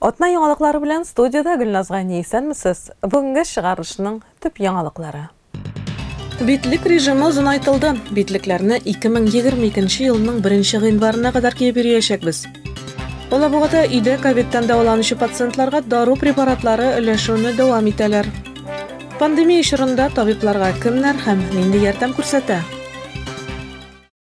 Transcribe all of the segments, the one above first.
Атна яңалыклары белән студияда Гөлназ Гани исәнмесез. Бүгенге чыгарылышның төп яңалыклары. Битлек режимы озынайтылды. Битлекләрне 2022 елның 1 гыйнварына кадәр киеп йөриячәкбез. Алабугада өйдә ковидтан дәваланучы пациентларга дару препаратлары өләшүне дәвам итәләр. Пандемия чорында табибларга кемнәр һәм нинди ярдәм күрсәтә?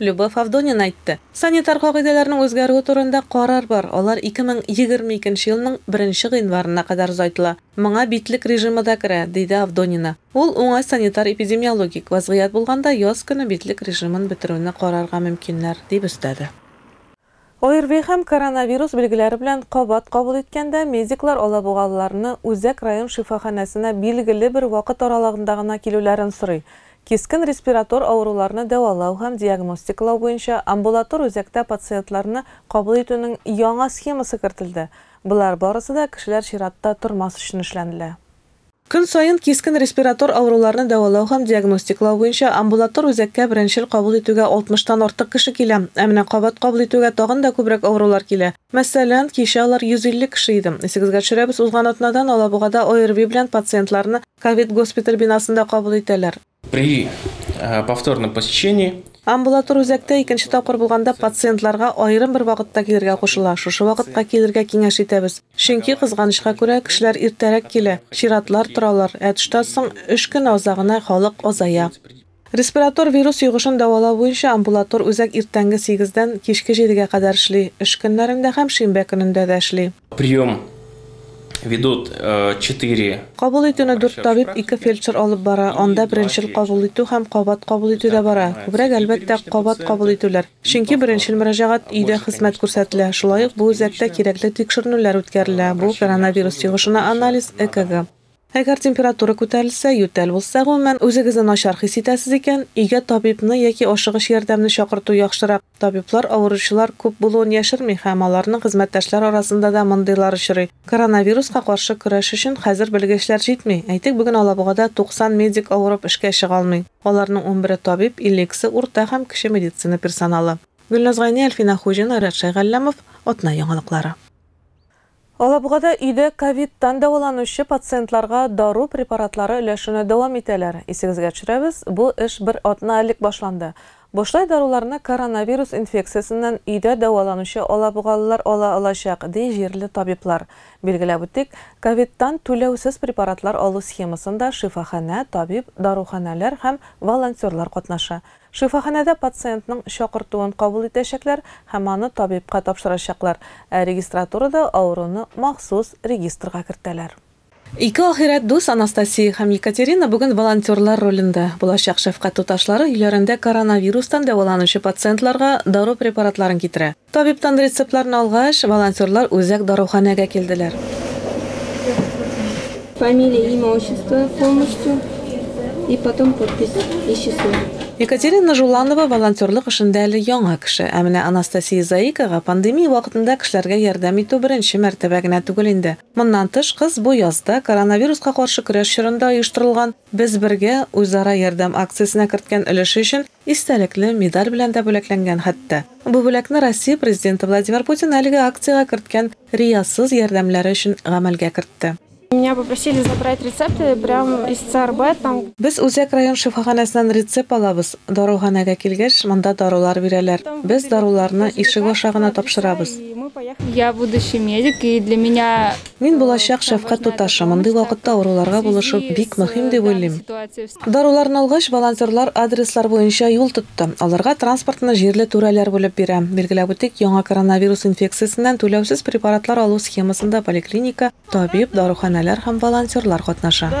Любовь Авдонина әйтте. Санитар кагыйдәләрнең үзгәрүе турында карар бар, алар 2020 икенче елның беренче гыйнварына кадәр озайтыла. Моңа битлек режимы да керә, диде Авдонина. Ул, уңай санитар-эпидемиологик вазгыять булганда, яз көне битлек режимын бетерүне карарга мөмкиннәр, дип өстәде. ОРВИ һәм коронавирус билгеләре белән кабат кабул иткәндә, медиклар алабугалыларны Үзәк район шифаханәсенә билгеле бер вакыт аралыгында гына килүләрен сорый, кискен респиратор авыруларны дәвалау һәм диагностикалау буенча амбулатор үзәктә пациентларны кабул итүнең яңа схемасы кертелде, болар барысы да кешеләр чиратта тормас өчен эшләнелә. Көн саен кискен респиратор авыруларны дәвалау һәм диагностиклау буенча амбулатор үзәккә беренчел кабул итүгә 60 тан артык кеше килә. Ә менә кабат кабул итүгә тагын да күбрәк авырулар килә. Мәсәлән, кичә алар 150 кеше иде. Исегезгә төшерәбез, узган атнадан Алабугада ОРВИ белән пациентларны ковид-госпиталь бинасында кабул итәләр. При повторном посещении Амбулатор үзәктә икенче тапкыр булганда пациентларга аерым бер вакытта килергә кушыла. Шушы вакытка килергә киңәш итәбез. Чөнки, кызганычка күрә, кешеләр иртәрәк килә, чиратлар торалар, ә төштән соң өч көн азагына халык азая. Респиратор вирус йогышын дәвалау буенча амбулатор үзәк иртәнге сигездән кичке җидегә кадәр эшли, эш көннәрендә һәм шимбә көнендә дә эшли. Прием ведут э, четыре. Кабул итүне дүрт табиб, ике фельдшер алып бара. Анда беренчел кабул итү һәм кабат кабул итү дә бара. Күбрәк, әлбәттә, кабат кабул итүләр. Чөнки беренчел мөрәҗәгать өйдә хезмәт күрсәтелә. Шулай ук бу үзәктә кирәкле тикшеренүләр үткәрелә. Бу коронавирус йогышына анализ, ЭКГ. Әгәр температура күтәрелсә, ютәл булса, гомумән, үзегезне начар хис итәсез икән, өйгә табибны яки ашыгыч ярдәмне чакырту яхшырак. Табиблар авыручылар күп булуын яшерми һәм аларның хезмәттәшләр арасында да мондыйлар очрый. Коронавируска каршы көрәш өчен хәзер белгечләр җитми. Әйтик, бүген Алабугада 90 медик авырып эшкә чыга алмый. Аларның унбере табиб, иллексе, урта һәм кече медицина персоналы. Гөлназ Гайни, Әлфинә Хуҗина, Рәт Шәйгалләмов, Атна яңалыклары. Алабугада өйдә ковидтан дәваланучы пациентларга дару препаратлары өләшүне дәвам итәләр. Исегезгә төшерәбез, бу эш бер атна элек башланды. Бушлай даруларны коронавирус инфекциясеннән өйдә дәваланучы алабугалылар ала алачак, ди җирле табиблар. Билгеләп үтик, ковидтан түләүсез препаратлар алу схемасында шифаханә, табиб, даруханәләр һәм волонтерлар катнаша. Шифаханәдә пациентның чакыртуын кабул итәчәкләр һәм аны табибка тапшырачаклар, ә регистратурада авыруны махсус регистрга кертәләр. Ике ахирәт дус Анастасия һәм Екатерина бүген волонтерлар ролендә булачак шәфкать туташлары өйләрендә коронавирустан дәваланучы пациентларга дару препаратларын китерә. Табибтан рецептларны алгач, волонтерлар үзәк даруханәгә килделәр. Фамилия, имя, отчество полностью и потом подпись и число. Екатерина Жуланова волонтерлык эшендә әле яңа кеше. Ә менә Анастасия Заикага пандемия вакытында кешеләргә ярдәм итү беренче мәртәбә генә түгел инде. Моннан тыш, кыз бу язда коронавируска каршы көрәш чорында оештырылган Без бергә, үзара ярдәм акциясенә керткән өлеше өчен истәлекле медаль белән дә бүләкләнгән хәтта. Бу бүләкне Россия Президенты Владимир Путин әлеге акциягә керткән риясыз ярдәмнәре өчен гамәлгә кертте. Меня попросили забрать рецепты прям из ЦРБ там. Без Үзәк район шифаханәсеннән рецепт алабыз, даруханәгә килгәч, монда дарулар бирәләр. Без даруларны ишек аша гына тапшырабыз. Я будущий медик и для меня Мин булачак шәфкать туташы, мондый вакытта авыруларга булышып бик мөһим дип уйлыйм. Даруларын алгач, волонтерлар адреслар буенча юл тотты. Аларга транспортны җирле түрәләр бүлеп бирә. Билгеләп үтик, яңа коронавирус инфекциясеннән түләүсез препаратлар алу схемасында поликлиника, табиб, даруханәләр һәм волонтерлар катнаша.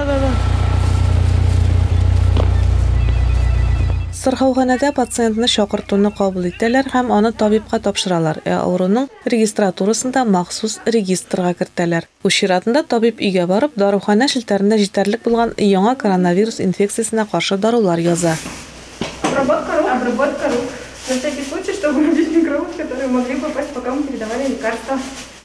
Сырхауханәдә пациентны чакыртуны кабул итәләр һәм аны табибка тапшыралар, ә авыруның, регистратурасында махсус регистрга кертәләр. Үз чиратында табиб өйгә барып, даруханә челтәрендә җитәрлек булган яңа коронавирус инфекциясенә каршы дарулар яза. Обработка рук Обработка рук На всякий случай, чтобы убить микробов, которые могли попасть, пока мы передавали лекарства.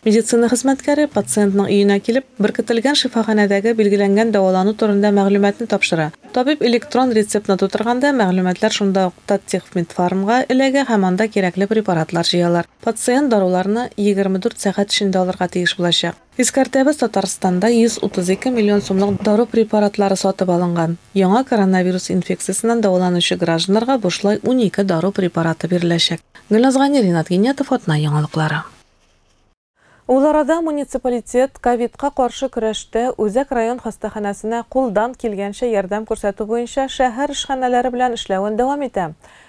Медицина хезмәткәре пациентның өенә килеп, беркетелгән шифаханәдәге билгеләнгән дәвалану турында мәгълүматны тапшыра, Табиб электрон рецептны тутырганда, мәгълүматлар шунда ук Таттехмедфармга эләгә һәм анда кирәкле препаратлар җыялар. Пациент даруларны егерме дүрт сәгать эчендә алырга тиеш булачак. Искәртәбез, Татарстанда 132 миллион сумлык дару препаратлары сатып алынган. Яңа коронавирус инфекциясеннән дәваланучы гражданнарга бушлай унике дару препараты биреләчәк. Гөлназ Гани, Ринат Гинятов, Атна яңалыклары. Ул арада муниципалитет ковидка каршы көрәштә Үзәк район хастаханәсенә кулдан килгәнчә ярдәм күрсәтү буенча шәһәр эшханәләре белән эшләвен дәвам итә.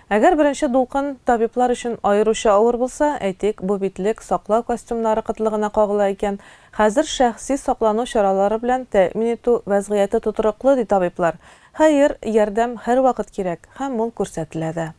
Әгәр беренче дулкын табиблар өчен аеруча авыр булса, әйтик, бу битлек, саклау костюмнары кытлыгына кагыла икән, хәзер шәхси саклану чаралары белән тәэмин итү вәзгыяте тотрыклы, ди табиблар. Хәер, ярдәм һәрвакыт кирәк һәм ул күрсәтелә дә.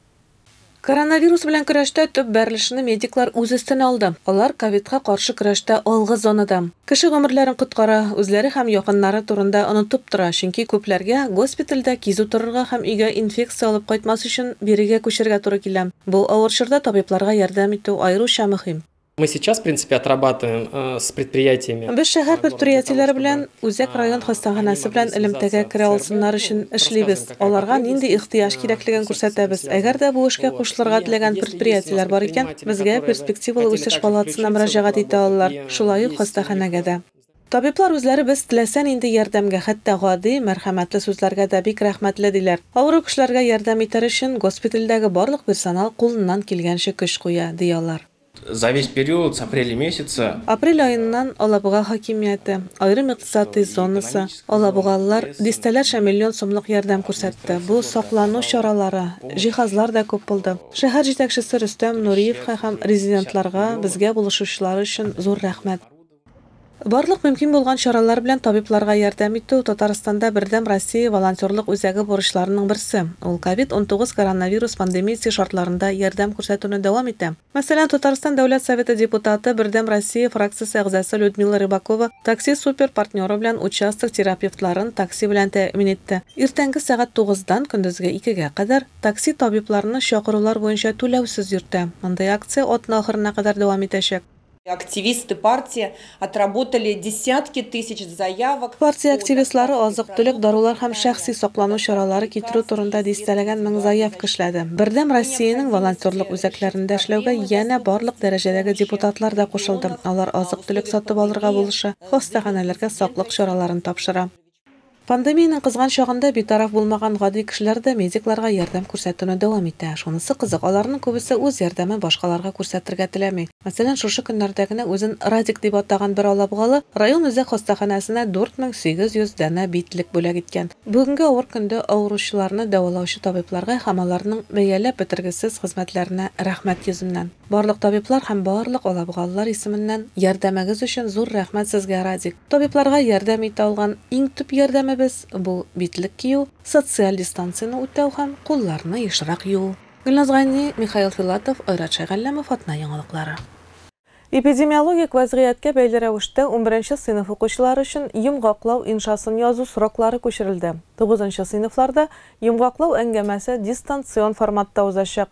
Коронавирус белән көрәштә төп бәрелешне медиклар үз өстенә алды. Алар ковидка каршы көрәштә алгы зонада. Кеше гомерләрен коткара, үзләре һәм якыннары турында онытып тора, чөнки күпләргә госпитальдә кизү торырга һәм өйгә инфекция алып кайтмас өчен бирегә күчәргә туры килә. Бу авыр чорда табибларга ярдәм итү аеруча мөһим. Мы сейчас, в принципе, отрабатываем э, с предприятиями. Без шәһәр предприятиеләре белән Үзәк район хастаханәсе белән элемтәгә керә алсыннар өчен эшлибез. Аларга нинди ихтыяҗ кирәклеген күрсәтәбез. Әгәр дә бу эшкә кушылырга теләгән предприятиеләр бар икән, безгә перспективалы үсеш палатасына мөрәҗәгать итә алалар, шулай ук хастаханәгә дә. Табиблар үзләре без теләсә нинди ярдәмгә, хәтта гади, мәрхәмәтле сүзләргә дә бик рәхмәтле, диләр. Авыру кешеләргә ярдәм итәр өчен госпитальдәге барлык персонал кулыннан килгәнчә көч куя, ди алар. За весь период с апреля месяца. Апрель аеннан Алабуга хакимияте, аерым икътисадый зонасы, алабугалылар дистәләрчә миллион сумлык ярдәм күрсәтте. Бу саклану чаралары, җиһазлар да күп булды. Шәһәр җитәкчесе Рөстәм Нуриевка һәм резидентларга, безгә булышучылар өчен зур рәхмәт. Барлык мөмкин булган чаралар белән табибларга ярдәм итү, Татарстанда Бердәм Россия волонтерлык үзәге бурычларының берсе. Ул ковид-унтугыз коронавирус пандемиясе шартларында ярдәм күрсәтүне дәвам итә. Мәсәлән, Татарстан Дәүләт Советы депутаты, Бердәм Россия фракциясе әгъзасы Людмила Рыбакова Такси Супер партнеры белән участок терапевтларын такси белән тәэмин итте. Иртәнге сәгать тугыздан көндезге икегә кадәр такси табибларны чакырулар буенча түләүсез йөртә. Мондый акция атна ахырына кадәр дәвам итәчәк. Активисты партия отработали десятки тысяч заявок. Партия активистлары азык-төлек, дарулар һәм шәхси саклану чаралары китерү турында дистәләгән мең заявка эшләде. Бердәм Россиянең волонтерлык үзәкләрендә эшләүгә янә барлык дәрәҗәдәге депутатлар да кушылды, алар азык-төлек сатып алырга булыша, хастаханәләргә саклык чараларын тапшыра. Пандемиянең кызган чагында битараф булмаган гади кешеләр дә медикларга ярдәм күрсәтүне дәвам итә. Шунысы кызык, аларның күбесе үз ярдәмен башкаларга күрсәтергә теләми. Мәсәлән, шушы көннәрдә генә үзен Радик дип атаган бер алабугалы район үзәк хастаханәсенә 4800 данә битлек бүләк иткән. Бүгенге авыр көндә авыручыларны дәвалаучы табибларга һәм аларның бәяләп бетергесез хезмәтләренә рәхмәт йөзеннән. Барлык табиблар һәм барлык алабугалылар исеменнән ярдәмегез өчен зур рәхмәт сезгә, Радик! Табибларга ярдәм итә алган иң төп ярдәмебез, бу, битлек кию, социаль дистанцияне үтәү һәм кулларны ешрак юу. Гөлназ Гайни, Михаил Филатов, Айрат Шәйгалләмов, Атна яңалыклары. Эпидемиологик вәзгыятькә бәйле рәвештә унберенче сыйныф укучылары өчен йомгаклау иншасын язу сроклары күчерелде. Тугызынчы сыйныфларда йомгаклау әңгәмәсе дистанцион форматта узачак,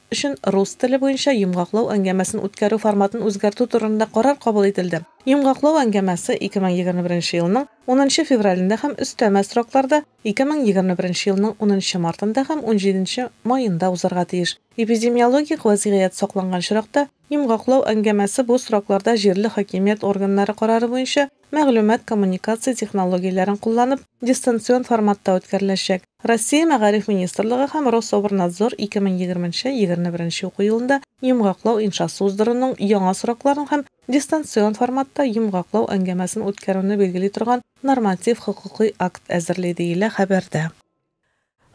өчен рус теле буенча йомгаклау әңгәмәсен үткәрү форматын үзгәртү турында карар кабул ителде. Йомгаклау әңгәмәсе 2021 беренче елның унынчы февралендә һәм өстәмә срокларда 2021 беренче елның унынчы мартында һәм унҗиденче маенда узарга тиеш. Эпидемиологик вәзгыять сакланган чоракта йомгаклау әңгәмәсе бу срокларда җирле хакимият органнары карары буенча мәгълүмат-коммуникация технологияләрен кулланып, дистанцион форматта үткәреләчәк. Россия Мәгариф министрлыгы һәм Рособрнадзор 2020 нче егерне беренче уку елында йомгаклау иншасы уздыруның яңа срокларын һәм дистанцион форматта йомгаклау әңгәмәсен үткәрүне билгели торган норматив-хокукый акт әзерли, диелә хәбәрдә.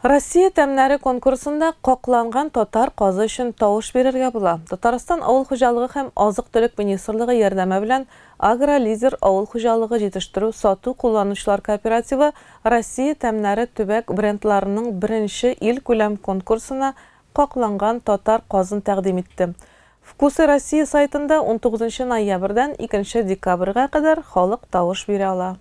Россия тәмнәре конкурсында Какланган татар казы өчен тавыш бирергә була. Татарстан Авыл хуҗалыгы һәм азык-төлек министрлыгы ярдәме белән Агролидер авыл хуҗалыгы җитештерү-сату кулланучылар кооперативы Россия тәмнәре төбәк брендларының беренче илкүләм конкурсына Какланган татар казын тәкъдим итте. Вкусы России сайтында унтугызынчы ноябрьдән икенче декабрьгә кадәр халык тавыш бирә ала.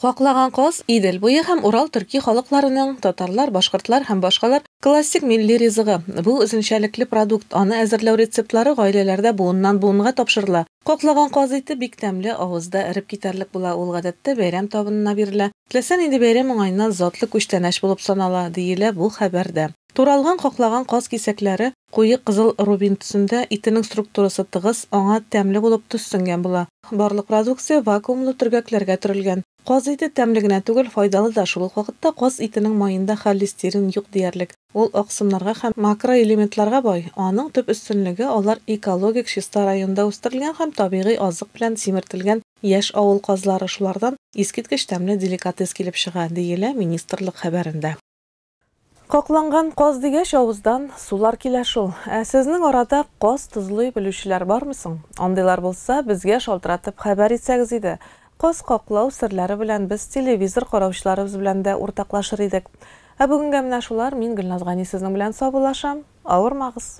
Каклаган каз, Идел буе һәм Урал төрки халыкларының, татарлар, башкортлар һәм башкалар, классик милли ризыгы. Бу, үзенчәлекле продукт, аны әзерләү рецептлары гаиләләрдә буыннан-буынга тапшырыла. Каклаган каз ите бик тәмле, авызда эреп китәрлек була, ул, гадәттә, бәйрәм табынына бирелә. Теләсә нинди бәйрәм уңаеннан затлы күчтәнәч булып санала, диелә бу хәбәрдә. Туралган каклаган каз кисәкләре куе кызыл рубин төсендә, итенең структурасы тыгыз, аңа тәмле булып төс сеңгән була. Барлык продукция вакуумлы төргәкләргә төрелгән. Каз ите тәмле генә түгел, файдалы да, шул ук вакытта каз итенең маенда холлестерин юк диярлек, ул аксымнарга һәм макроэлементларга бай, аның төп өстенлеге, алар экологик чиста районда үстерелгән һәм табигый азык белән симертелгән яшь авыл казлары, шулардан искиткеч тәмле деликатес килеп чыга, диелә министрлык хәбәрендә. Какланган каз дигәч, авыздан сулар килә шул. Ә сезнең арада каз тозлый белүчеләр бармы соң? Андыйлар булса, безгә шалтыратып хәбәр итсәгез иде. Каз каклау серләре белән без телевизор караучыларыбыз белән дә уртаклашыр идек. Ә бүгенгә менә шулар, мин Гөлназ Гани сезнең белән саубуллашам. Авырмагыз!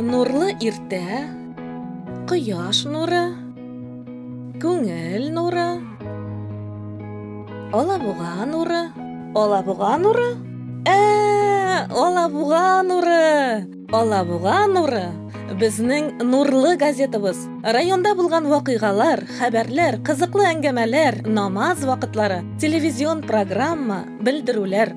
Нурлы иртә, кояш нуры, күңел нуры, алабуга нуры. Алабуга нуры? Ә, алабуга нуры! Алабуга нуры! Безнең нурлы газетабыз. Районда булган вакыйгалар, хәбәрләр, кызыклы әңгәмәләр, намаз вакытлары, телевизион программа, белдерүләр.